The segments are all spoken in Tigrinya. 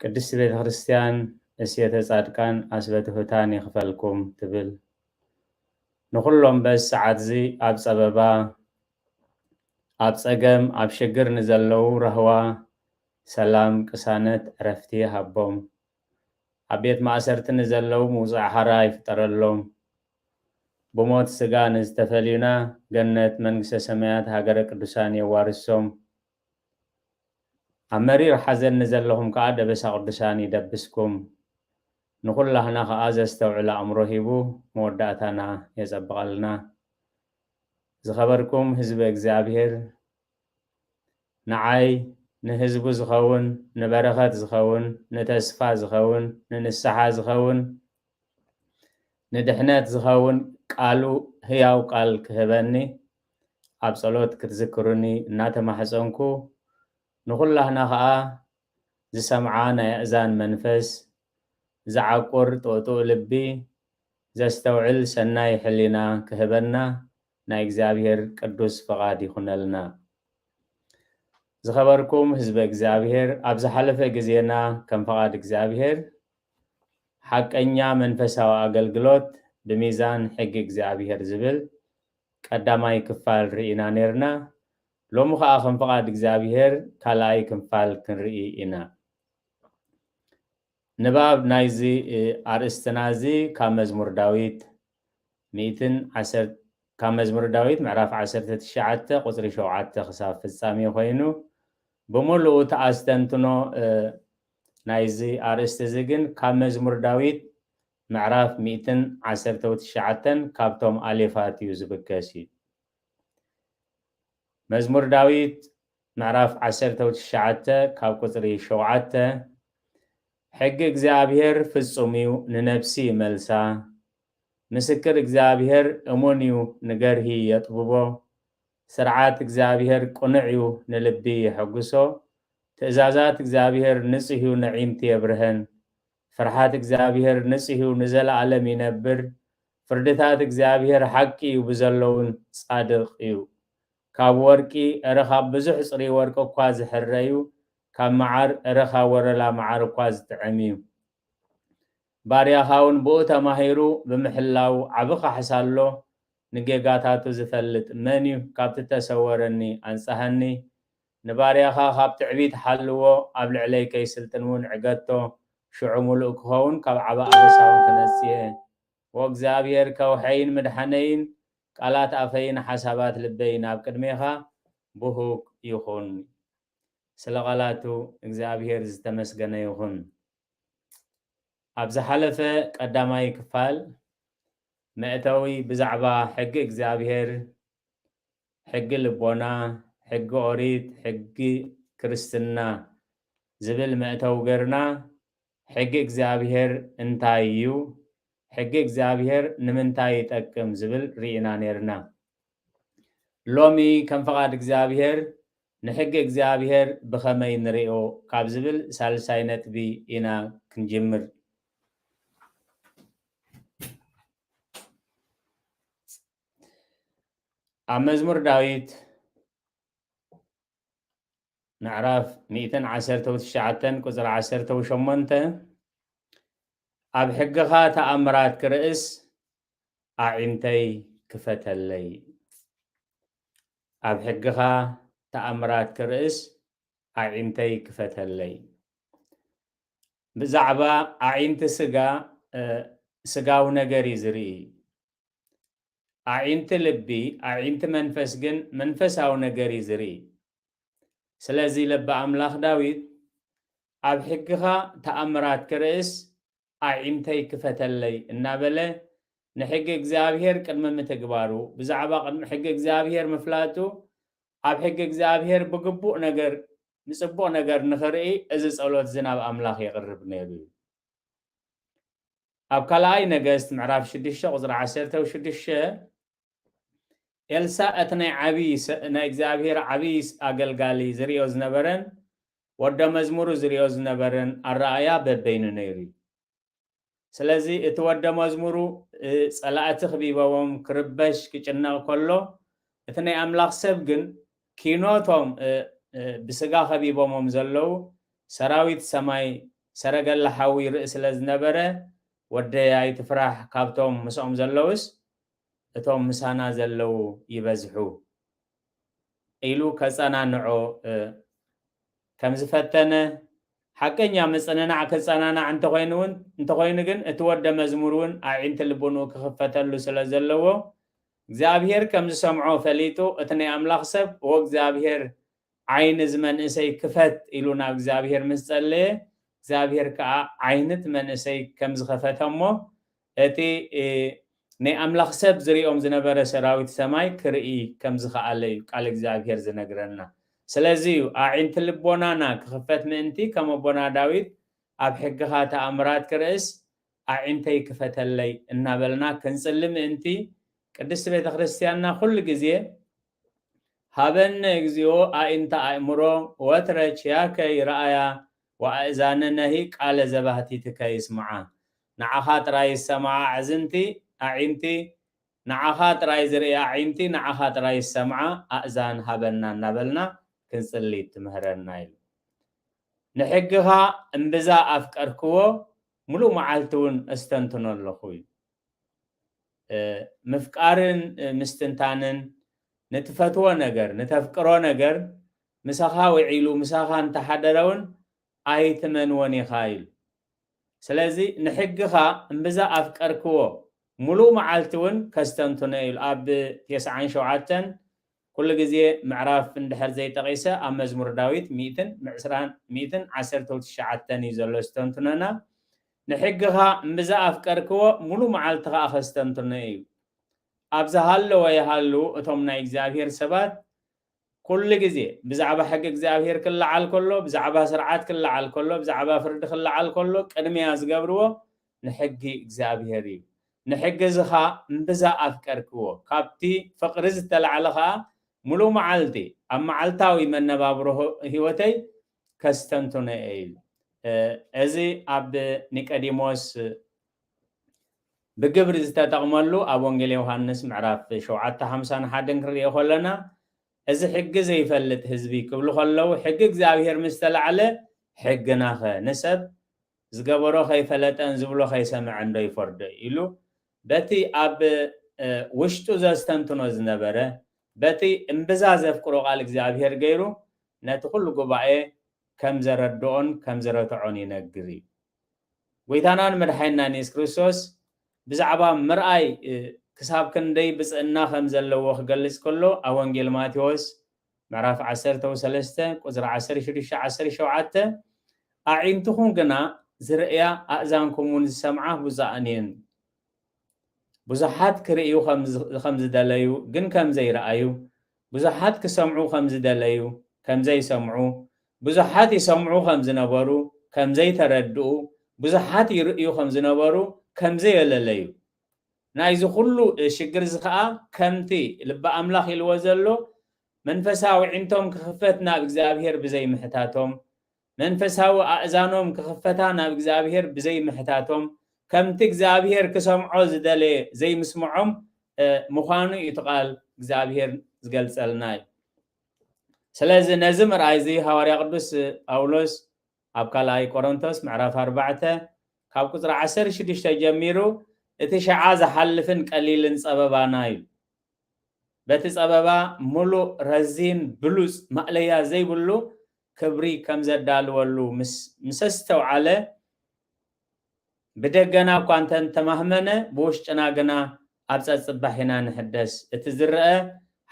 ቅድስቲ ቤተ ክርስቲያን እስየተ ጻድቃን ኣስበ ትሑታን ይክፈልኩም ትብል ንኩሎም በዚ ሰዓትዚ ኣብ ጸበባ ኣብ ጸገም ኣብ ሽግር ንዘለዉ ራህዋ ሰላም ቅሳነት ዕረፍቲ ይሃቦም ኣብ ቤት ማእሰርቲ ንዘለዉ ምውጻእ ሓራ ይፍጠረሎም ብሞት ስጋ ንዝተፈልዩና ገነት መንግስተ ሰማያት ሃገረ ቅዱሳን የዋርሶም ኣብ መሪር ሓዘን ንዘለኹም ከኣ ደበሳ ቅዱሳን ይደብስኩም። ንኹላህና ከኣ ዘስተውዕል ኣእምሮ ሂቡ መወዳእታና የጸብቐልና። ዝኸበርኩም ህዝበ እግዚኣብሔር ንዓይ ንህዝቡ ዝኸውን ንበረኸት ዝኸውን ንተስፋ ዝኸውን ንንስሓ ዝኸውን ንድሕነት ዝኸውን ቃሉ ህያው ቃል ክህበኒ ኣብ ጸሎት ክትዝክሩኒ እናተማሕጸንኩ ንኹላህና ከኣ ዝሰምዓ ናይ ኣእዛን መንፈስ፣ ዝዓቁር ጦጡእ ልቢ፣ ዘስተውዕል ሰናይ ሕሊና ክህበና ናይ እግዚኣብሔር ቅዱስ ፍቓድ ይኹነልና። ዝኸበርኩም ህዝበ እግዚኣብሔር ኣብ ዝሓለፈ ግዜና ከም ፍቓድ እግዚኣብሔር ሓቀኛ መንፈሳዊ ኣገልግሎት ብሚዛን ሕጊ እግዚኣብሔር ዝብል ቀዳማይ ክፋል ርኢና ኔርና ሎሚ ከኣ ከም ፍቃድ እግዚኣብሄር ካልኣይ ክንፋል ክንርኢ ኢና። ንባብ ናይዚ ኣርእስትና እዚ ካብ መዝሙር ዳዊት ሚእትን ዓሰርተ ካብ መዝሙር ዳዊት ምዕራፍ ዓሰርተ ትሽዓተ ቁጽሪ ሸውዓተ ክሳብ ፍጻሜ ኮይኑ ብምሉኡ እቲ ኣስተንትኖ ናይዚ ኣርእስቲ እዚ ግን ካብ መዝሙር ዳዊት ምዕራፍ ሚእትን ዓሰርተው ትሽዓተን ካብቶም ኣሌፋት እዩ ዝብገስ እዩ። መዝሙር ዳዊት ምዕራፍ ዓሰርተው ትሽዓተ ካብ ቁጽሪ ሸውዓተ ሕጊ እግዚኣብሔር ፍጹም እዩ ንነብሲ ይመልሳ፣ ምስክር እግዚኣብሔር እሙን እዩ ንገርሂ የጥብቦ፣ ስርዓት እግዚኣብሔር ቅኑዕ እዩ ንልቢ የሐጉሶ፣ ትእዛዛት እግዚኣብሔር ንጹህ እዩ ነዒንቲ የብርሀን፣ ፍርሓት እግዚኣብሄር ንጽህ እዩ ንዘለኣለም ይነብር ፍርድታት እግዚኣብሄር ሓቂ እዩ ብዘሎውን ጻድቅ እዩ ካብ ወርቂ እረ ካብ ብዙሕ ጽርይ ወርቂ እኳ ዝሕረ እዩ ካብ መዓር እረ ካብ ወረላ መዓር እኳ ዝጥዕም እዩ ባርያኻውን ብኡ ተማሂሩ ብምሕላው ዓቢ ካሕሳ ኣሎ ንጌጋታቱ ዝፈልጥ መን እዩ ካብቲ ተሰወረኒ ኣንጽሃኒ ንባርያኻ ኻብ ትዕቢት ሓልዎ፣ ኣብ ልዕለይ ከይስልጥን እውን ዕገቶ፣ ሽዑ ምሉእ ክኸውን፣ ካብ ዓቢ ኣበሳውን ክነጽ እየ። ኦ እግዚኣብሄር፣ ከውሐይን ምድሓነይን፣ ቃላት ኣፈይን ሓሳባት ልበይን ኣብ ቅድሜኻ ብሁግ ይኹን። ስለ ቓላቱ እግዚኣብሄር ዝተመስገነ ይኹን። ኣብ ዝሓለፈ ቀዳማይ ክፋል መእተዊ ብዛዕባ ሕጊ እግዚኣብሄር ሕጊ ልቦና፣ ሕጊ ኦሪት፣ ሕጊ ክርስትና ዝብል መእተዊ ገርና ሕጊ እግዚኣብሔር እንታይ እዩ? ሕጊ እግዚኣብሔር ንምንታይ ይጠቅም? ዝብል ሪኢና ነርና። ሎሚ ከም ፍቃድ እግዚኣብሔር ንሕጊ እግዚኣብሔር ብከመይ ንሪኦ ካብ ዝብል ሳልሳይ ነጥቢ ኢና ክንጅምር። ኣብ መዝሙር ዳዊት ምዕራፍ ሚእትን ዓሰርተው ትሽዓተን ቁፅሪ ዓሰርተው ሸሞንተ ኣብ ሕግኻ ተኣምራት ክርእስ ኣዒንተይ ክፈተለይ ኣብ ሕግኻ ተኣምራት ክርእስ ኣዒንተይ ክፈተለይ ብዛዕባ ኣዒንቲ ስጋ ስጋዊ ነገር እዩ ዝርኢ ኣዒንቲ ልቢ ኣዒንቲ መንፈስ ግን መንፈሳዊ ነገር እዩ ዝርኢ ስለዚ ለቢ ኣምላኽ ዳዊት ኣብ ሕግኻ ተኣምራት ክርእስ ኣዒንተይ ክፈተለይ እናበለ ንሕጊ እግዚኣብሔር ቅድሚ ምትግባሩ ብዛዕባ ቅድሚ ሕጊ እግዚኣብሔር ምፍላጡ ኣብ ሕጊ እግዚኣብሔር ብግቡእ ነገር ንጽቡቕ ነገር ንኽርኢ እዚ ጸሎት እዚ ናብ ኣምላኽ የቕርብ ነይሩ እዩ ኣብ ካልኣይ ነገስት ምዕራፍ ሽዱሽተ ቁጽሪ ዓሰርተ ሽዱሽተ ኤልሳእ እቲ ናይ ዓብይ ናይ እግዚኣብሔር ዓብይ ኣገልጋሊ ዝርእዮ ዝነበረን ወደ መዝሙሩ ዝርእዮ ዝነበረን ኣረኣእያ በበይኑ ነይሩ እዩ። ስለዚ እቲ ወደ መዝሙሩ ጸላእቲ ክቢበቦም ክርበሽ ክጭነቕ ከሎ እቲ ናይ ኣምላኽ ሰብ ግን ኪኖ'ቶም ብስጋ ከቢቦሞም ዘለዉ ሰራዊት ሰማይ ሰረገላ ሓዊ ይርኢ ስለ ዝነበረ፣ ወደይ ኣይትፍራሕ፣ ካብቶም ምስኦም ዘለዉስ እቶም ምሳና ዘለዉ ይበዝሑ ኢሉ ከጸናንዖ ከም ዝፈተነ፣ ሓቀኛ ምጽንናዕ ክጸናናዕ እንተኾይኑ ግን እቲ ወደ መዝሙር'ውን ኣዒንቲ ልቡንኡ ክኽፈተሉ ስለ ዘለዎ እግዚኣብሄር ከም ዝሰምዖ ፈሊጡ እቲ ናይ ኣምላኽ ሰብ ኦ እግዚኣብሄር ዓይኒ እዚ መንእሰይ ክፈት ኢሉ ናብ እግዚኣብሄር ምስ ጸለየ እግዚኣብሄር ከኣ ዓይኒ እቲ መንእሰይ ከም ዝኸፈተ እሞ እቲ ናይ ኣምላኽ ሰብ ዝሪኦም ዝነበረ ሰራዊት ሰማይ ክርኢ ከም ዝኸኣለ እዩ ቃል እግዚኣብሄር ዝነግረና ስለዚ እዩ ኣዒንቲ ልቦናና ክኽፈት ምእንቲ ከም ኣቦና ዳዊት ኣብ ሕግኻ ተኣምራት ክርእስ ኣዒንተይ ክፈተለይ እናበልና ክንጽሊ ምእንቲ፣ ቅድስት ቤተ ክርስቲያንና ኩሉ ግዜ ሀበነ እግዚኦ ኣኢንተ ኣእምሮ ወትረ ችያከ ይርኣያ ወኣእዛንነሂ ቃለ ዘባህቲትከ ይስምዓ፣ ንዓኻ ጥራይ ይሰምዓ ኣዕዝንቲ፣ ኣዒንቲ፣ ንዓኻ ጥራይ ዝርእያ ኣዒንቲ፣ ንዓኻ ጥራይ ዝሰምዓ ኣእዛን ሃበና እናበልና ክንጽሊ ትምህረና ኢሉ። ንሕግኻ እምብዛ ኣፍቀርክዎ ምሉእ መዓልቲ እውን ኣስተንትኖ ኣለኹ እዩ። ምፍቃርን ምስትንታንን ንትፈትዎ ነገር፣ ንተፍቅሮ ነገር ምሳኻ ውዒሉ ምሳኻ እንተሓደረ እውን ኣይትመንዎን ኢኻ ኢሉ። ስለዚ ንሕግኻ እምብዛ ኣፍቀርክዎ፣ ምሉእ መዓልቲ እውን ከስተንትኖ እየ ኢሉ ኣብ ቴስዓን ሸውዓተን ኩሉ ግዜ ምዕራፍ እንድሕር ዘይጠቂሰ ኣብ መዝሙር ዳዊት ሚእትን ምዕስራን ሚእትን ዓሰርተው ትሽዓተን እዩ ዘሎ ዝተንትኖና ንሕግኻ እምብዛ ኣፍቀርክዎ ሙሉ መዓልቲ ከኣ ከስተንትኖ እዩ ኣብ ዝሃለወ ይሃሉ እቶም ናይ እግዚኣብሄር ሰባት ኩሉ ግዜ ብዛዕባ ሕጊ እግዚኣብሄር ክለዓል ከሎ ብዛዕባ ስርዓት ክለዓል ከሎ ብዛዕባ ፍርዲ ክለዓል ከሎ ቅድሚያ ዝገብርዎ ንሕጊ እግዚኣብሄር እዩ ንሕጊ እዚ ኸኣ እምብዛ ኣፍቀርክዎ። ካብቲ ፍቕሪ ዝተላዕለ ኸኣ ምሉእ መዓልቲ ኣብ መዓልታዊ መነባብሮ ህይወተይ ከስተንትኖ እየ ኢሉ። እዚ ኣብ ኒቀዲሞስ ብግብሪ ዝተጠቕመሉ ኣብ ወንጌል ዮሃንስ ምዕራፍ ሸውዓተ ሓምሳን ሓደን ክንርእዮ ከሎና እዚ ሕጊ ዘይፈልጥ ህዝቢ ክብሉ ከለዉ ሕጊ እግዚኣብሄር ምስ ተላዕለ ሕግናኸ ንሰብ ዝገበሮ ከይፈለጠን ዝብሎ ከይሰመዐን ዶ ይፈርዶ ኢሉ በቲ ኣብ ውሽጡ ዘስተንትኖ ዝነበረ በቲ እምብዛ ዘፍቅሮ ቃል እግዚኣብሔር ገይሩ ነቲ ኩሉ ጉባኤ ከም ዘረድኦን ከም ዝረትዖን ይነግር እዩ። ጎይታናን መድሓይናን የሱስ ክርስቶስ ብዛዕባ ምርኣይ ክሳብ ክንደይ ብፅእና ከም ዘለዎ ክገልፅ ከሎ ኣብ ወንጌል ማቴዎስ ምዕራፍ ዓሰርተ ወሰለስተ ቁጽሪ ዓሰርተ ሽዱሽተ ዓሰርተ ሸውዓተ ኣዒንትኹም ግና ዝርእያ ኣእዛንኩምውን ዝሰምዓ ብፁዓን እየን። ብዙሓት ክርእዩ ኸም ዝደለዩ ግን ከም ዘይረኣዩ፣ ብዙሓት ክሰምዑ ኸም ዝደለዩ ከም ዘይሰምዑ፣ ብዙሓት ይሰምዑ ኸም ዝነበሩ ከም ዘይተረድኡ፣ ብዙሓት ይርእዩ ኸም ዝነበሩ ከም ዘየለለዩ። ናይዚ ኩሉ ሽግርዚ ከኣ ከምቲ ልቢ ኣምላኽ ኢልዎ ዘሎ መንፈሳዊ ኣዒንቶም ክኽፈት ናብ እግዚኣብሄር ብዘይ ምሕታቶም መንፈሳዊ ኣእዛኖም ክኽፈታ ናብ እግዚኣብሄር ብዘይ ምሕታቶም ከምቲ እግዚኣብሄር ክሰምዖ ዝደለየ ዘይምስምዖም ምዃኑ እዩ እቲ ቃል እግዚኣብሄር ዝገልጸልና እዩ። ስለዚ ነዚ ምርኣይዚ ሃዋርያ ቅዱስ ጳውሎስ ኣብ ካልኣይ ቆሮንቶስ ምዕራፍ ኣርባዕተ ካብ ቁጽሪ ዓሰርተ ሽዱሽተ ጀሚሩ እቲ ሽዓ ዝሓልፍን ቀሊልን ጸበባና ኢሉ። በቲ ጸበባ ምሉእ፣ ረዚን፣ ብሉጽ፣ ማእለያ ዘይብሉ ክብሪ ከም ዘዳልወሉ ምስ ምስ ኣስተውዓለ ብደገና እኳ እንተ ተማህመነ ብውሽጥና ግና ኣብ ጸጽባሕ ኢና ንሕደስ። እቲ ዝረኣ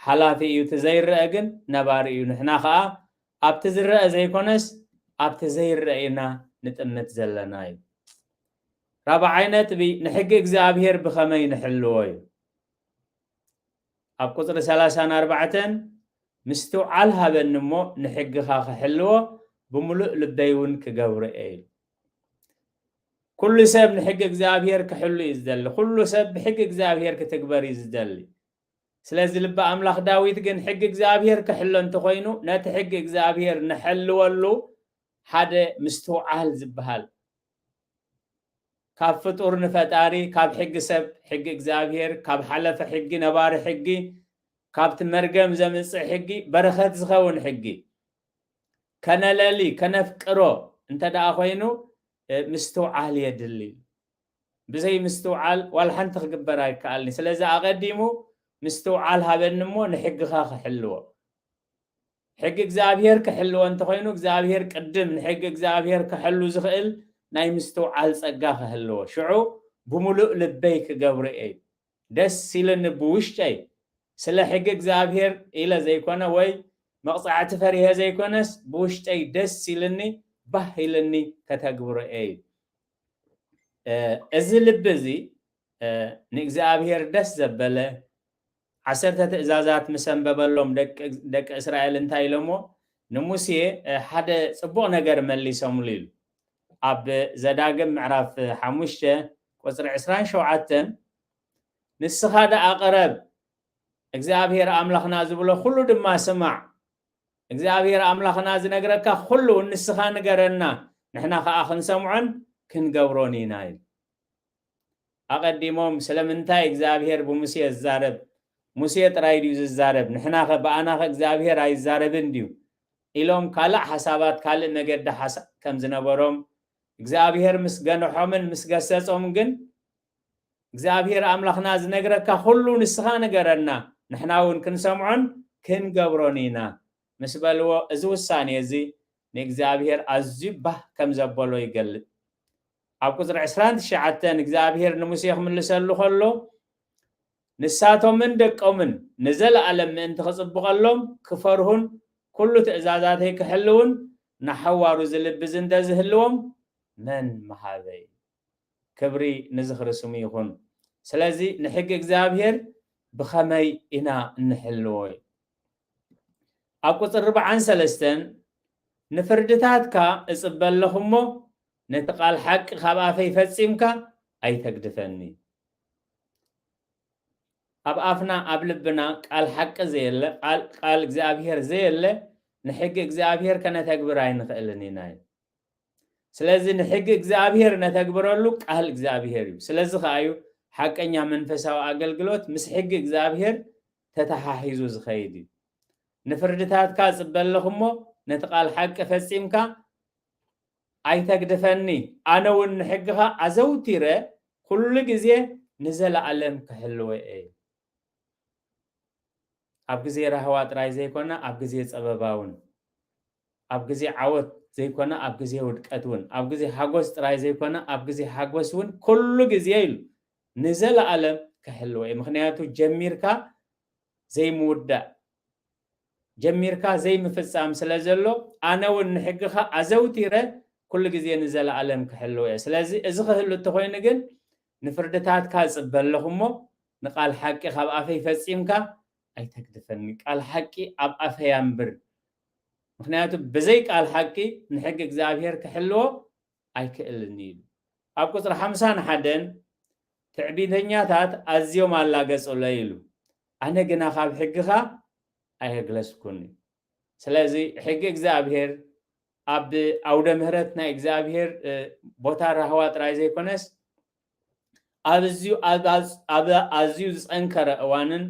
ሓላፊ እዩ እቲ ዘይረኣ ግን ነባሪ እዩ ንሕና ከኣ ኣብቲ ዝረኣ ዘይኮነስ ኣብቲ ዘይረኣ ኢና ንጥምት ዘለና እዩ። ራብዓይ ነጥቢ ንሕጊ እግዚኣብሄር ብኸመይ ንሕልዎ እዩ። ኣብ ቁጽሪ ሰላሳን ኣርባዕተን ምስትውዓል ሃበኒ እሞ ንሕግኻ ክሕልዎ ብምሉእ ልበይ እውን ክገብሮ እየ ኢሉ። ኩሉ ሰብ ንሕጊ እግዚኣብሄር ክሕሉ እዩ ዝደሊ። ኩሉ ሰብ ብሕጊ እግዚኣብሄር ክትግበር እዩ ዝደሊ። ስለዚ ልቢ ኣምላኽ ዳዊት ግን ሕጊ እግዚኣብሔር ክሕሎ እንተኾይኑ ነቲ ሕጊ እግዚኣብሔር ንሐልወሉ ሓደ ምስትውዓል ዝበሃል ካብ ፍጡር ንፈጣሪ ካብ ሕጊ ሰብ ሕጊ እግዚኣብሔር ካብ ሓለፈ ሕጊ ነባሪ ሕጊ ካብቲ መርገም ዘምጽእ ሕጊ በረኸት ዝኸውን ሕጊ ከነለሊ ከነፍቅሮ እንተ ደኣ ኮይኑ ምስትውዓል የድሊ ብዘይ ምስትውዓል ዋላ ሓንቲ ክግበር ኣይከኣልን'ዩ። ስለዚ ኣቐዲሙ ምስትውዓል ሃበኒ እሞ ንሕግኻ ክሕልዎ። ሕጊ እግዚኣብሄር ክሕልዎ እንተኾይኑ እግዚኣብሄር ቅድም ንሕጊ እግዚኣብሄር ከሐሉ ዝኽእል ናይ ምስትውዓል ጸጋ ክህልዎ። ሽዑ ብምሉእ ልበይ ክገብሮ እየ። ደስ ኢሉኒ ብውሽጠይ ስለ ሕጊ እግዚኣብሄር ኢለ ዘይኮነ ወይ መቕጻዕቲ ፈሪሀ ዘይኮነስ ብውሽጠይ ደስ ኢሉኒ ባህ ኢሉኒ ከተግብሮ እየ። እዚ ልቢ እዚ ንእግዚኣብሔር ደስ ዘበለ ዓሰርተ ትእዛዛት ምስ ኣንበበሎም ደቂ እስራኤል እንታይ ኢሎምዎ? ንሙሴ ሓደ ጽቡቕ ነገር መሊሶምሉ ኢሉ። ኣብ ዘዳግም ምዕራፍ ሓሙሽተ ቁጽሪ ዕስራን ሸውዓተን ንስኻ ደኣ ቅረብ፣ እግዚኣብሔር ኣምላኽና ዝብሎ ኩሉ ድማ ስማዕ እግዚኣብሔር ኣምላኽና ዝነግረካ ኹሉ ንስኻ ንገረና ንሕና ኸኣ ክንሰምዖን ክንገብሮን ኢና ኢሉ። ኣቐዲሞም ስለምንታይ እግዚኣብሔር ብሙሴ ዝዛረብ ሙሴ ጥራይ ድዩ ዝዛረብ ንሕናኸ ብኣናኸ እግዚኣብሔር ኣይዛረብን ድዩ ኢሎም ካልእ ሓሳባት ካልእ መገዲ ሓሳብ ከም ዝነበሮም እግዚኣብሔር ምስ ገንሖምን ምስ ገሰጾም ግን እግዚኣብሄር ኣምላኽና ዝነግረካ ዅሉ ንስኻ ንገረና፣ ንሕና እውን ክንሰምዖን ክንገብሮን ኢና ምስ በልዎ፣ እዚ ውሳኔ እዚ ንእግዚኣብሄር ኣዝዩ ባህ ከም ዘበሎ ይገልጽ። ኣብ ቍጽሪ ዕስራን ትሽዓተን እግዚኣብሄር ንሙሴ ክምልሰሉ ኸሎ፣ ንሳቶምን ደቆምን ንዘለኣለም ምእንቲ ክጽብቐሎም፣ ክፈርሁን ኵሉ ትእዛዛተይ ክሕልዉን ንሓዋሩ ዝልቢ ዝንተ ዝህልዎም መን ምሃበ? ይብል። ክብሪ ንዝኽሪ ስሙ ይኹን። ስለዚ ንሕጊ እግዚኣብሄር ብኸመይ ኢና እንሕልዎ? ኣብ ቍጽሪ ርብዓን ሰለስተን ንፍርድታትካ እጽበ ኣለኹ እሞ፣ ነቲ ቓል ሓቂ ኻብ ኣፈይ ፈጺምካ ኣይተግድፈኒ። ኣብ ኣፍና ኣብ ልብና ቃል ሓቂ ዘየለ፣ ቃል እግዚኣብሄር ዘየለ፣ ንሕጊ እግዚኣብሄር ከነተግብር ኣይንኽእልን ኢና እዩ። ስለዚ ንሕጊ እግዚኣብሔር ነተግብረሉ ቃል እግዚኣብሔር እዩ። ስለዚ ከኣ እዩ ሓቀኛ መንፈሳዊ ኣገልግሎት ምስ ሕጊ እግዚኣብሔር ተተሓሒዙ ዝኸይድ እዩ። ንፍርድታትካ እጽበ ኣለኹ እሞ ነቲ ቃል ሓቂ ፈጺምካ ኣይተግድፈኒ፣ ኣነ እውን ንሕግኻ ኣዘውቲረ ኩሉ ግዜ ንዘለኣለም ክሕልወ እየ። ኣብ ግዜ ራህዋ ጥራይ ዘይኮነ ኣብ ግዜ ጸበባ እውን ኣብ ግዜ ዓወት ዘይኮነ ኣብ ግዜ ውድቀት እውን፣ ኣብ ግዜ ሓጎስ ጥራይ ዘይኮነ ኣብ ግዜ ሓጎስ እውን ኩሉ ግዜ ኢሉ ንዘለኣለም ክሕልዎ እዩ። ምኽንያቱ ጀሚርካ ዘይምውዳእ ጀሚርካ ዘይምፍጻም ስለ ዘሎ ኣነ እውን ንሕግኻ ኣዘውቲረ ኩሉ ግዜ ንዘለኣለም ክሕልዎ እየ። ስለዚ እዚ ክህሉ እንተኾይኑ ግን ንፍርድታትካ እጽበ ኣለኹ እሞ ንቃል ሓቂ ካብ ኣፈይ ፈጺምካ ኣይተግድፈኒ ቃል ሓቂ ኣብ ኣፈይ ኣንብር ምክንያቱ ብዘይ ቃል ሓቂ ንሕጊ እግዚኣብሔር ክሕልዎ ኣይክእልን እዩ ኣብ ቁፅሪ ሓምሳን ሓደን ትዕቢተኛታት ኣዝዮም ኣላገጹለይ ኢሉ ኣነ ግና ካብ ሕግኻ ኣየግለስኩን እዩ ስለዚ ሕጊ እግዚኣብሄር ኣብ ኣውደ ምህረት ናይ እግዚኣብሄር ቦታ ራህዋ ጥራይ ዘይኮነስ ኣብ ኣዝዩ ዝጸንከረ እዋንን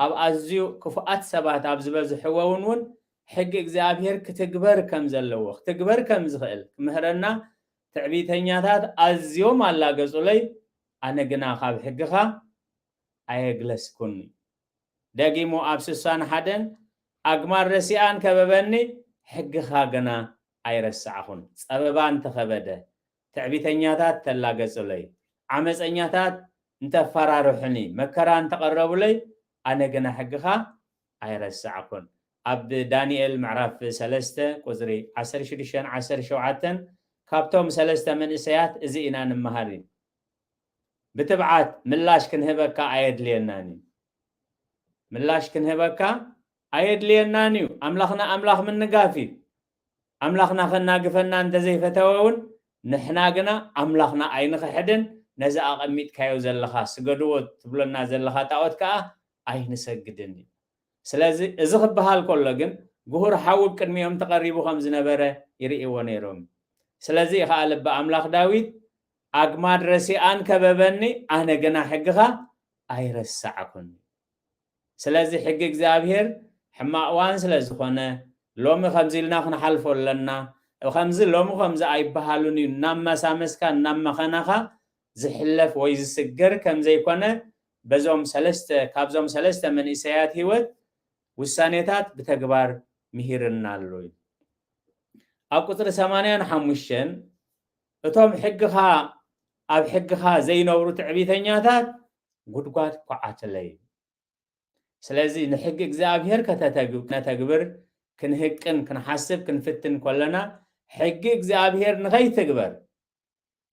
ኣብ ኣዝዩ ክፉኣት ሰባት ኣብ ዝበዝሕዎውን እውን ሕጊ እግዚኣብሔር ክትግበር ከም ዘለዎ ክትግበር ከም ዝኽእል ክምህረና ትዕቢተኛታት ኣዝዮም ኣላገጹለይ ኣነ ግና ካብ ሕግኻ ኣየግለስኩን ደጊሙ ኣብ ስሳን ሓደን ኣግማድ ረሲኣን ከበበኒ ሕግኻ ግና ኣይረሳዕኹን ጸበባ እንተኸበደ ትዕቢተኛታት ተላገጹለይ፣ ዓመጸኛታት እንተፈራርሑኒ፣ መከራ እንተቐረቡለይ፣ ኣነ ግና ሕግኻ ኣይረሳዕኩን። ኣብ ዳንኤል ምዕራፍ ሰለስተ ቁጽሪ ዓሰርተ ሽዱሽተን ዓሰርተ ሸውዓተን ካብቶም ሰለስተ መንእሰያት እዚ ኢና ንመሃር እዩ። ብትብዓት ምላሽ ክንህበካ ኣየድልየናን እዩ። ምላሽ ክንህበካ ኣየድልየናን እዩ። ኣምላኽና ኣምላኽ ምንጋፍ እዩ። ኣምላኽና ከናግፈና እንተ ዘይፈተወ ውን ንሕና ግና ኣምላኽና ኣይንኽሕድን ነዚ ኣቐሚጥካዮ ዘለኻ ስገድዎ ትብለና ዘለኻ ጣኦት ከኣ ኣይንሰግድን ይብል። ስለዚ እዚ ክበሃል ከሎ ግን ግሁር ሓዊ ብ ቅድሚኦም ተቐሪቡ ከም ዝነበረ ይርእይዎ ነይሮም እዩ። ስለዚ እዩ ከኣ ልበ ኣምላኽ ዳዊት ኣግማድ ረሲኣን ከበበኒ ኣነ ግና ሕግኻ ኣይረሳዕኩን። ስለዚ ሕጊ እግዚኣብሄር ሕማቕ እዋን ስለ ዝኾነ ሎሚ ከምዚ ኢልና ክንሓልፎ ኣለና፣ ከምዚ ሎሚ ከምዚ ኣይበሃሉን እዩ እናመሳመስካ እናመኸነኻ ዝሕለፍ ወይ ዝስገር ከም ዘይኮነ በዞም ሰለስተ ካብዞም ሰለስተ መንእሰያት ህይወት ውሳኔታት ብተግባር ምሂርና ኣሎ እዩ። ኣብ ቁፅሪ ሰማንያን ሓሙሽተን እቶም ሕግኻ ኣብ ሕግኻ ዘይነብሩ ትዕቢተኛታት ጉድጓድ ኳዓትለይ። ስለዚ ንሕጊ እግዚኣብሄር ከተተግብር ክንህቅን ክንሓስብ ክንፍትን ከሎና ሕጊ እግዚኣብሄር ንኸይትግበር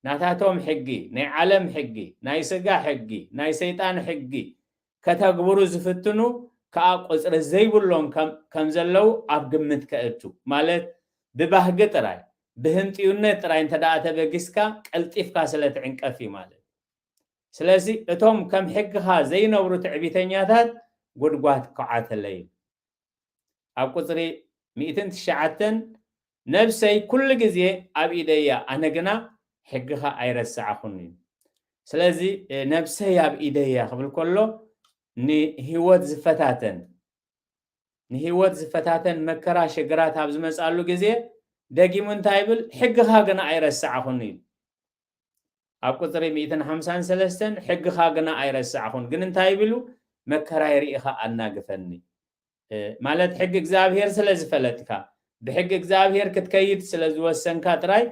ናታቶም ሕጊ ናይ ዓለም ሕጊ ናይ ስጋ ሕጊ ናይ ሰይጣን ሕጊ ከተግብሩ ዝፍትኑ ከዓ ቁፅሪ ዘይብሎም ከም ዘለው ኣብ ግምት ከእቱ ማለት ብባህጊ ጥራይ ብህንጥዩነት ጥራይ እንተደኣ ተበጊስካ ቀልጢፍካ ስለ ትዕንቀፍ እዩ ማለት ስለዚ እቶም ከም ሕግኻ ዘይነብሩ ትዕቢተኛታት ጉድጓድ ክኳዓተለይ እዩ። ኣብ ቁጽሪ ሚእትን ትሽዓተን ነብሰይ ኩሉ ግዜ ኣብ ኢደይ እያ ኣነ ግና ሕግኻ ኣይረሳዕኹን እዩ። ስለዚ ነብሰይ ኣብ ኢደይ እያ ክብል ከሎ ንህይወት ዝፈታተን ንህይወት ዝፈታተን መከራ ሽግራት ኣብ ዝመጻሉ ግዜ ደጊሙ እንታይ ይብል? ሕግኻ ግና ኣይረሳዕኹን እዩ። ኣብ ቁጽሪ ሚእትን ሓምሳን ሰለስተን ሕግኻ ግና ኣይረሳዕኹን ግን እንታይ ቢሉ መከራይ ርኢኻ ኣናግፈኒ ማለት ሕጊ እግዚኣብሔር ስለ ዝፈለጥካ ብሕጊ እግዚኣብሔር ክትከይድ ስለ ዝወሰንካ ጥራይ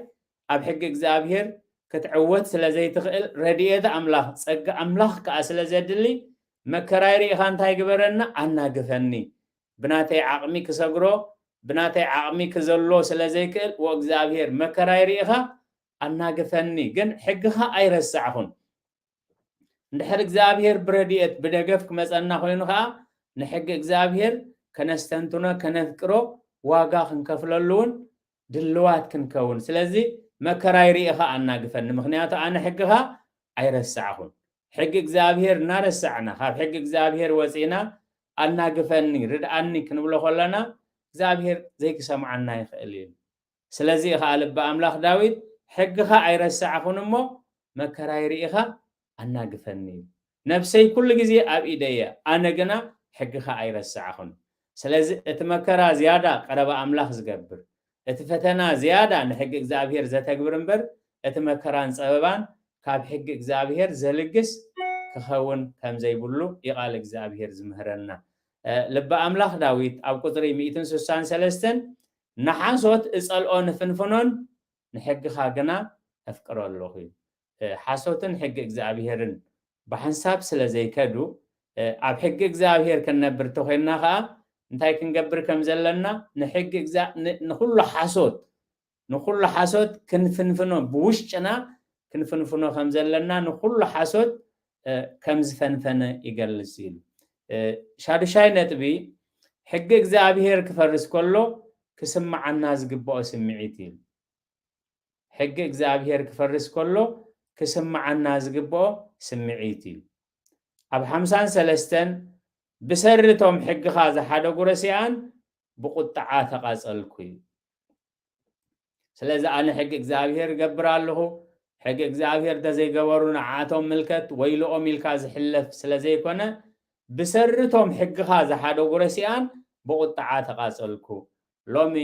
ኣብ ሕጊ እግዚኣብሔር ክትዕወት ስለ ዘይትኽእል ረድኤት ኣምላኽ ጸጋ ኣምላኽ ከኣ ስለ ዘድሊ መከራይ ርኢኻ እንታይ ግበረና ኣናግፈኒ ብናተይ ዓቕሚ ክሰግሮ ብናተይ ዓቕሚ ክዘሎ ስለ ዘይክእል ወእግዚኣብሔር መከራይ ርኢኻ ኣናግፈኒ ግን ሕግኻ ኣይረሳዕኹን። እንድሕር እግዚኣብሄር ብረድኤት ብደገፍ ክመጸና ኮይኑ ከኣ ንሕጊ እግዚኣብሄር ከነስተንትኖ ከነፍቅሮ ዋጋ ክንከፍለሉ እውን ድልዋት ክንከውን ስለዚ መከራይ ርኢኻ ኣናግፈኒ ምክንያቱ ኣነ ሕግኻ ኣይረሳዕኹን ሕጊ እግዚኣብሄር እናረሳዕና ካብ ሕጊ እግዚኣብሄር ወፂእና ኣናግፈኒ ርድኣኒ ክንብሎ ከለና እግዚኣብሄር ዘይክሰምዓና ይኽእል እዩ ስለዚ ኸኣ ልቢ ኣምላኽ ዳዊት ሕግኻ ኣይረሳዕኹን እሞ፣ መከራይ ርኢኻ ኣናግፈኒ ኢሉ። ነፍሰይ ኩሉ ግዜ ኣብ ኢደይ እያ፣ ኣነ ግና ሕግኻ ኣይረሳዕኹን። ስለዚ እቲ መከራ ዝያዳ ቀረባ ኣምላኽ ዝገብር፣ እቲ ፈተና ዝያዳ ንሕጊ እግዚኣብሄር ዘተግብር እምበር እቲ መከራን ጸበባን ካብ ሕጊ እግዚኣብሄር ዘልግስ ክኸውን ከም ዘይብሉ እዩ ቃል እግዚኣብሄር ዝምህረና። ልቢ ኣምላኽ ዳዊት ኣብ ቁጽሪ ሚእትን ስሳን ሰለስተን ንሓሶት እጸልኦ ንፍንፍኖን ንሕግኻ ግና ኣፍቅሮ ኣሎኹ። ሓሶትን ሕጊ እግዚኣብሄርን ብሓንሳብ ስለ ዘይከዱ ኣብ ሕጊ እግዚኣብሄር ክንነብር እንተ ዄንና ኸኣ እንታይ ክንገብር ከም ዘለና ንሕጊ እግዚኣ ን ንዅሉ ሓሶት ንዅሉ ሓሶት ክንፍንፍኖ ብውሽጥና ክንፍንፍኖ ከም ዘለና ንዅሉ ሓሶት ከም ዝፈንፈነ ይገልጽ ኢሉ። ሻዱሻይ ነጥቢ፣ ሕጊ እግዚኣብሄር ክፈርስ ከሎ ክስምዓና ዝግባኦ ስምዒት ኢሉ። ሕጊ እግዚኣብሄር ክፈርስ ከሎ ክስምዓና ዝግባኦ ስምዒት ኢሉ። ኣብ ሓምሳን ሰለስተን ብሰሪ እቶም ሕግኻ ዝሓደጉ ረሲኣን ብቑጥዓ ተቓጸልኩ ኢሉ። ስለዚ ኣነ ሕጊ እግዚኣብሄር እገብር ኣለኹ፣ ሕጊ እግዚኣብሄር እንተዘይገበሩ ንዓኣቶም ምልከት ወይልኦም ኢልካ ዝሕለፍ ስለዘይኮነ ብሰሪ እቶም ሕግኻ ዝሓደጉ ረሲኣን ብቑጥዓ ተቓጸልኩ። ሎሚ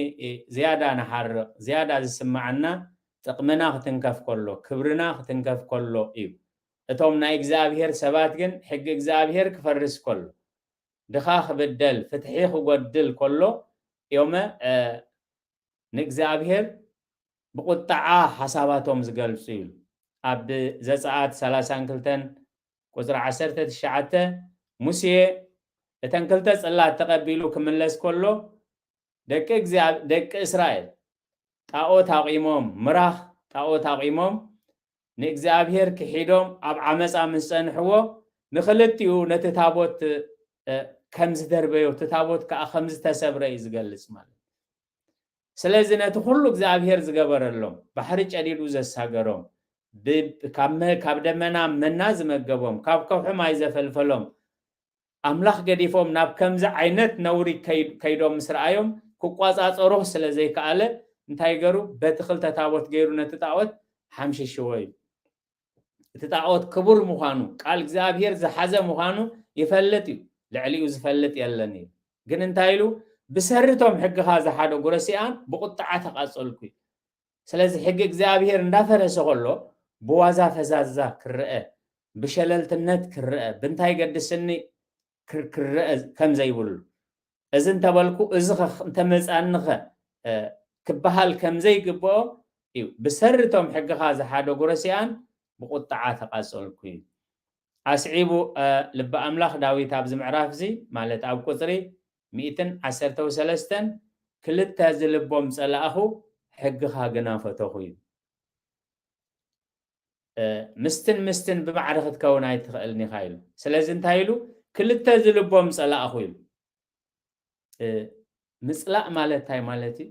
ዝያዳ ንሓርቕ፣ ዝያዳ ዝስምዓና ጥቕምና ክትንከፍ ከሎ፣ ክብርና ክትንከፍ ከሎ እዩ። እቶም ናይ እግዚኣብሄር ሰባት ግን ሕጊ እግዚኣብሄር ክፈርስ ከሎ፣ ድኻ ክብደል፣ ፍትሒ ክጎድል ከሎ እዮመ ንእግዚኣብሄር ብቑጥዓ ሓሳባቶም ዝገልጹ እዩ። ኣብ ዘጸኣት ሰላሳን ክልተን ቁጽሪ ዓሰርተ ትሽዓተ ሙሴ እተን ክልተ ጽላት ተቐቢሉ ክምለስ ከሎ ደቂ ደቂ እስራኤል ጣኦት ኣቚሞም ምራኽ ጣኦት ኣቚሞም ንእግዚኣብሔር ክሒዶም ኣብ ዓመጻ ምስ ጸንሕዎ ንክልቲኡ ነቲ ታቦት ከም ዝደርበዮ እቲ ታቦት ከኣ ከም ዝተሰብረ እዩ ዝገልጽ ማለት ስለዚ ነቲ ኩሉ እግዚኣብሔር ዝገበረሎም ባሕሪ ጨዲዱ ዘሳገሮም ካብ ደመና መና ዝመገቦም ካብ ከውሒ ማይ ዘፈልፈሎም ኣምላኽ ገዲፎም ናብ ከምዚ ዓይነት ነውሪ ከይዶም ምስ ረኣዮም ክቆጻጸሮ ስለ ዘይከኣለ እንታይ ገሩ በቲ ክልተ ታቦት ገይሩ ነቲ ጣኦት ሓምሽሽዎ እዩ። እቲ ጣኦት ክቡር ምዃኑ ቃል እግዚኣብሄር ዝሓዘ ምዃኑ ይፈልጥ እዩ ልዕሊኡ ዝፈልጥ የለን እዩ ግን እንታይ ኢሉ ብሰሪ እቶም ሕግኻ ዝሓደጉ ረሲኣን ብቁጥዓ ተቃጸልኩ እዩ። ስለዚ ሕጊ እግዚኣብሄር እንዳፈረሰ ከሎ ብዋዛ ፈዛዛ ክረኣ ብሸለልትነት ክረኣ ብንታይ ይገድስኒ ክረኣ ከምዘይብሉ እዚ እንተበልኩ እዚኸ እንተመፃኒኸ ክበሃል ከምዘይግብኦ እዩ ብሰሪ እቶም ሕግኻ ዝሓደጉ ረሲኣን ብቁጥዓ ተቃፀልኩ እዩ ኣስዒቡ ልቢ ኣምላኽ ዳዊት ኣብዚ ምዕራፍ እዚ ማለት ኣብ ቁፅሪ ሚእትን ዓሰርተው ሰለስተን ክልተ ዝልቦም ጸላእኹ ሕግኻ ግና ፈተኹ እዩ። ምስትን ምስትን ብማዕረ ክትከውን ኣይትኽእልን ኢኻ ኢሉ ስለዚ እንታይ ኢሉ ክልተ ዝልቦም ጸላእኹ ኢሉ ምጽላእ ማለት እንታይ ማለት እዩ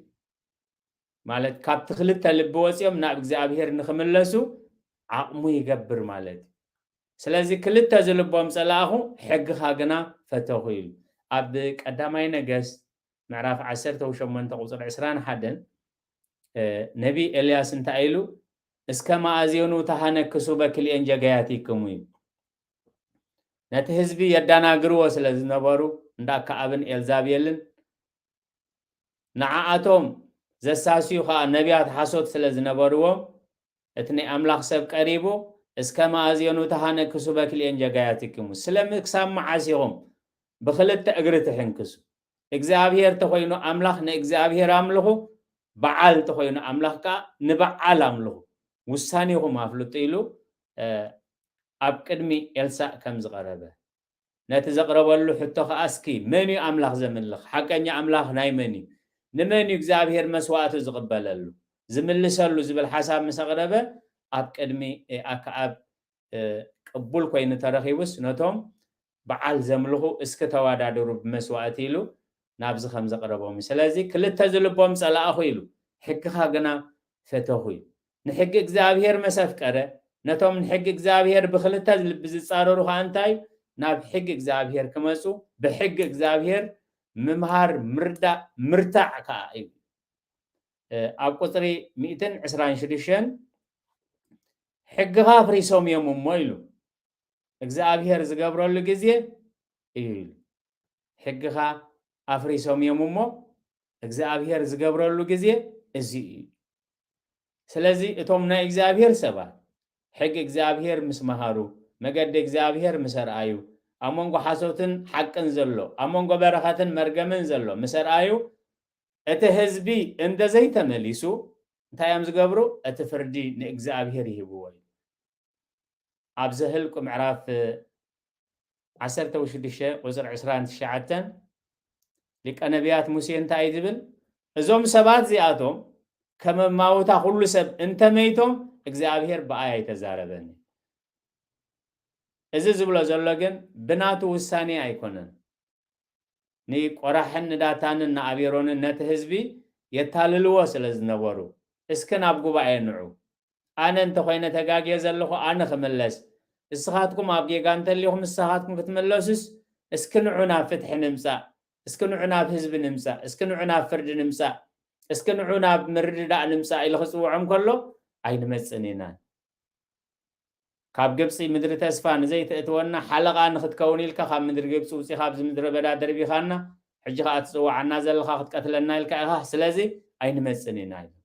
ማለት ካብቲ ክልተ ልቢ ወጺኦም ናብ እግዚኣብሔር ንክምለሱ ዓቕሙ ይገብር ማለት እዩ። ስለዚ ክልተ ዝልቦም ጸላእኹ ሕግኻ ግና ፈተኹ ይብል። ኣብ ቀዳማይ ነገስት ምዕራፍ ዓሰርተ ሸሞንተ ቁጽሪ ዕስራን ሓደን ነቢይ ኤልያስ እንታይ ኢሉ እስከ መኣዜኑ ተሃነክሱ በክልኤን ጀጋያቲክሙ እዩ ነቲ ህዝቢ የዳናግርዎ ስለ ዝነበሩ እንዳ ከኣብን ኤልዛቤልን ንዓኣቶም ዘሳስዩ ኸኣ ነብያት ሓሶት ስለ ዝነበርዎም፣ እቲ ናይ ኣምላኽ ሰብ ቀሪቡ፣ እስከ መኣዜኑ ተሃነክሱ በክልኤን ጀጋያቲክሙ፣ ስለ ም ክሳብ መዓስ ኢኹም ብኽልተ እግሪ ትሕንክሱ? እግዚኣብሄር ተኾይኑ ኣምላኽ ንእግዚኣብሄር ኣምልኹ፣ በዓል ተኾይኑ ኣምላኽ ከኣ ንበዓል ኣምልኹ፣ ውሳኔኹም ኣፍልጡ ኢሉ ኣብ ቅድሚ ኤልሳእ ከም ዝቐረበ ነቲ ዘቕረበሉ ሕቶ ከኣ እስኪ መን እዩ ኣምላኽ ዘምልኽ? ሓቀኛ ኣምላኽ ናይ መን እዩ? ንመን እዩ እግዚኣብሄር መስዋእቱ ዝቕበለሉ? ዝምልሰሉ ዝብል ሓሳብ ምስ ኣቕረበ ኣብ ቅድሚ ኣከኣብ ቅቡል ኮይኑ ተረኺቡስ ነቶም በዓል ዘምልኹ እስኪ ተዋዳድሩ ብመስዋእቲ ኢሉ ናብዚ ከም ዘቕረቦም እዩ። ስለዚ ክልተ ዝልቦም ጸላእኹ ኢሉ ሕግኻ ግና ፈተኹ እዩ። ንሕጊ እግዚኣብሄር መስ ኣፍቀረ፣ ነቶም ንሕጊ እግዚኣብሄር ብኽልተ ልቢ ዝጻረሩ ኸኣ እንታይ እዩ? ናብ ሕጊ እግዚኣብሄር ክመጹ፣ ብሕጊ እግዚኣብሄር ምምሃር፣ ምርዳእ፣ ምርታዕ ከኣ እዩ። ኣብ ቁጽሪ ሚእትን ዕስራን ሽዱሽተን ሕግኻ ኣፍሪሶም እዮም እሞ ኢሉ እግዚኣብሄር ዝገብረሉ ግዜ እዩ ኢሉ። ሕግኻ ኣፍሪሶም እዮም እሞ እግዚኣብሄር ዝገብረሉ ግዜ እዚ እዩ። ስለዚ እቶም ናይ እግዚኣብሔር ሰባት ሕጊ እግዚኣብሔር ምስ መሃሩ፣ መገዲ እግዚኣብሔር ምስ ኣርኣዩ፣ ኣብ መንጎ ሓሶትን ሓቅን ዘሎ፣ ኣብ መንጎ በረኸትን መርገምን ዘሎ ምስ ኣርኣዩ፣ እቲ ህዝቢ እንተዘይተመሊሱ እንታይ እዮም ዝገብሩ? እቲ ፍርዲ ንእግዚኣብሔር ይህብዎ እዩ። ኣብ ዘህልቁ ምዕራፍ ዓሰርተ ውሽዱሽተ ቁጽሪ ዕስራን ትሽዓተን ሊቀ ነቢያት ሙሴ እንታይ እዩ ዝብል እዞም ሰባት እዚኣቶም ከመማውታ ኩሉ ሰብ እንተመይቶም እግዚኣብሔር ብኣይ ኣይተዛረበን እዩ እዚ ዝብሎ ዘሎ ግን ብናቱ ውሳኔ ኣይኮነን ንቆራሕን ንዳታንን ንኣቤሮንን ነቲ ህዝቢ የታልልዎ ስለ ዝነበሩ እስኪ ናብ ጉባኤ ንዑ ኣነ እንተ ኮይነ ተጋግየ ዘለኹ ኣነ ክምለስ እስኻትኩም ኣብ ጌጋ እንተሊኹም እሳኻትኩም ክትምለሱስ እስኪ ንዑ ናብ ፍትሒ ንምጻእ እስኪ ንዑ ናብ ህዝቢ ንምጻእ እስኪ ንዑ ናብ ፍርዲ ንምጻእ እስኪ ንዑ ናብ ምርድዳእ ንምጻእ ኢሉ ክጽውዖም ከሎ ኣይንመጽን ኢና ካብ ግብጺ ምድሪ ተስፋ ንዘይትእትወና ሓለቓ ንኽትከውን ኢልካ ካብ ምድሪ ግብጺ ውጺኻ ኣብዚ ምድረ በዳ ደርቢኻና ሕጂ ኸኣ ትጽውዓና ዘለኻ ክትቀትለና ኢልካ ኢኻ ስለዚ ኣይንመጽን ኢና ኢሎም።